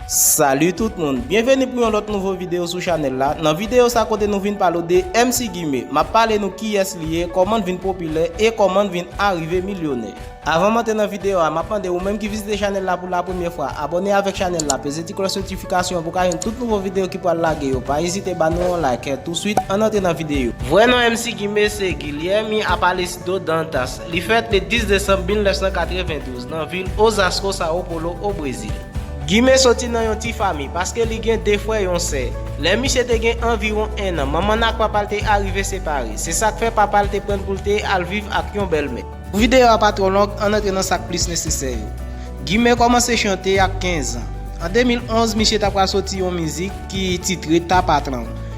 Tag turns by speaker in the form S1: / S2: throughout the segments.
S1: Salut tout moun, byenveni pou yon lòt nouvo video sou chanèl la, nan video sa kote nou vin pale w de MC Gimé, map pale nou kiyès li ye, kòman l vin popilè e kòman l vin arive milyonè. Avan m antre nan video a, map mande ou menm ki vizite chanèl la pou la premyè fwa, abòne avèk chanèl la, peze ti klòch notifikasyon an pou w ka jwenn tout nouvo video ki pral lage yo, pa ezite ba nou yon like, touswit ann antre nan video. Vrè non MC Gimé se Guilherme Aparecido Dantas, Li fèt le 10 desanm 1992 nan vil Osasco, Sao Paulo, o Brezil. Guime soti nan yon ti fami, paske li gen 2 frè yon sè. Lè misye te gen anviwon 1 an, manman l ak papa l te arive separe. Se sa k fè papa l te pran l pou l te al viv ak yon bèlmè. Pou videyo a pa twò long, ann antre nan sa k plis nesesè yo. Guime kòmanse chante ak 15 an. An 2011, misye ta pral soti yon mizik ki titre Ta Patrão.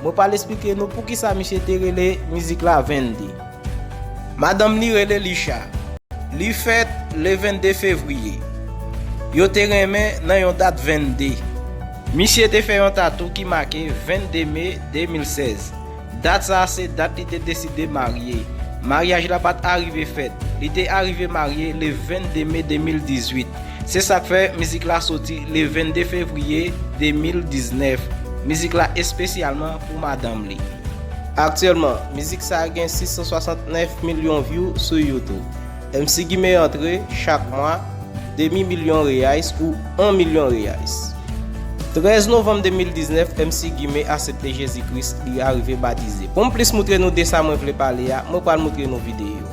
S1: Mwen pral esplike nou poukisa misye te rele mizik la Vennde. Madanm li rele Lisha. Li fèt le 22 fevriye. Yo te renmen nan yon dat Vennde. Misye te fè yon tatou ki make 22 me 2016. Dat sa a se dat li te deside marye. Maryaj la pat arive fèt. Li te arive marye le 22 me 2018. Se sak fè mizik la soti le 22 fevriye 2019. Mizik la espesyalman pou madanm li. Aktyèlman, mizik sa gen 669 milyon vyou sou YouTube. MC Gimé antre, chak mwa, demi milyon Reais ou 1 milyon Reais. 13 novanm 2019, MC Gimé asepte Jezi Kris, li arive batize. Pou m plis moutre nou de sa mwen vle pale a, mwen pral moutre nou videyo.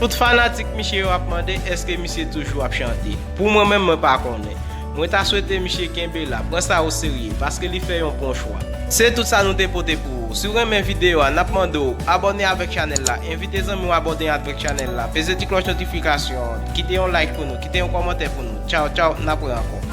S1: Tout fanatik misye yo ap mande eske misye toujou ap chante. Pou mwen menm mwen pa konnen. Mwen ta swete misye kenbe la, pran sa o serye, paske li fè yon bon chwa. Se tout sa nou te pote pou ou. Si w renmen video a, nap mande w abòne avèk chanèl la, envite zanmi w abòne advèk chanèl la, peze ti klòch notifikasyon an, kite yon like pou nou, kite yon kòmantè pou nou. Tchaw tchaw, nap re ankò.